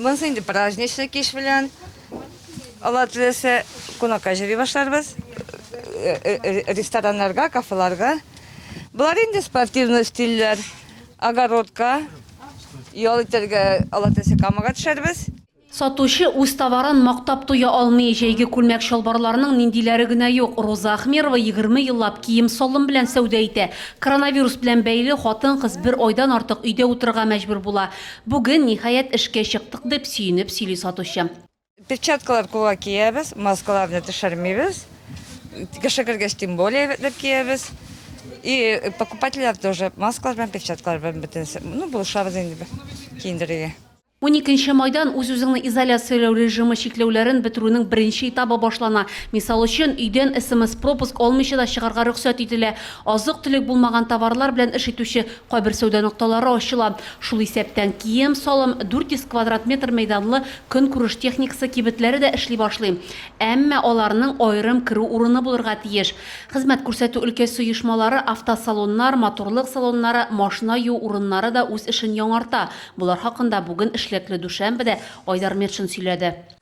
Монысы инде праздничный кич белән. Алла теләсә, кунакка җыри башларбыз. Э, э, э, рестораннарга, кафеларга. Болар инде спортивный стильләр. Огородка, ял итәргә, Алла теләсә, камага төшәрбез. Сатучы үз товарын мактап туя алмый. Җәйге күлмәк чалбарларның ниндиләре генә юк. Роза Ахмерова 20 еллап кием салым белән сәүдә итә. Коронавирус белән бәйле хатын-кыз бер айдан артык өйдә утырырга мәҗбүр була. Бүген, ниһаять, эшкә чыктык, дип сөенеп сөйли сатучы. Перчаткалар кулга киябез, маскаларны төшермибез. Кеше кергәч, тем более рәтләп киябез. И покупательләр тоже маскалар белән, перчаткалар белән бөтенесе. Ну, булышабыз инде без киендерергә. Уникенче майдан үз-үзеңне изоляцияләү режимы чикләүләрен бетерүнең беренче этабы башлана. Мисал өчен, өйдән смс-пропуск алмыйча да чыгарга рөхсәт ителә. Азык-төлек булмаган товарлар белән эш итүче Кайбер сәүдә нокталары ачыла. Шул исәптән, кием-салым, 400 квадрат метр мәйданлы көнкүреш техникасы кибетләре дә эшли башлый. Әмма аларның аерым керү урыны булырга тиеш. Хезмәт күрсәтү өлкәсе оешмалары, автосалоннар, матурлык салоннары, машина юу урыннары да үз эшен яңарта. Болар хакында бүген эшлекле Дүшәмбедә Айдар Метшин сөйләде.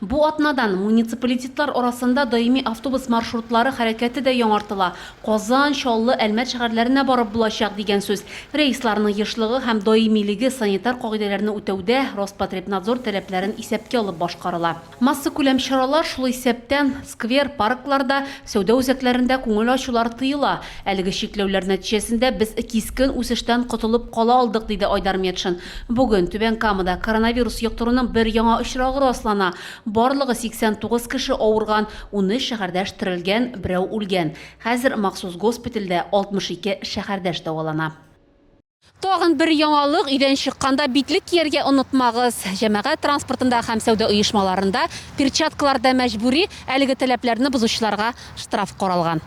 Бу атнадан муниципалитетлар арасында даими автобус маршрутлары хәрәкәте дә яңартыла, Казан, Чаллы, Әлмәт шәһәрләренә барып булачак, дигән сүз. Рейсларның ешлыгы һәм даимилеге санитар кагыйдәләрне үтәүдә Роспотребнадзор таләпләрен исәпкә алып башкарыла. Массакүләм чаралар, шул исәптән, сквер, паркларда, сәүдә үзәкләрендә күңел ачулар тыела. Әлеге чикләүләр нәтиҗәсендә без кискен үсештән котылып кала алдык, диде Айдар Метшин. Бүген Түбән Камада коронавирус йоктыруның бер яңа очрагы раслана. Барлыгы 89 кеше авырган, унөч шәһәрдәш терелгән, берәү үлгән. Хәзер махсус госпитальдә 62 шәһәрдәш дәвалана. Тагын бер яңалык, өйдән чыкканда битлек кияргә онытмагыз. Җәмәгать транспортында һәм сәүдә оешмаларында перчаткалар да мәҗбүри, әлеге таләпләрне бозучыларга штраф каралган.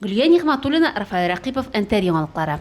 Гөлия Нигъмәтуллина, Рафаэль Рәкыйпов, Энтер яңалыклары.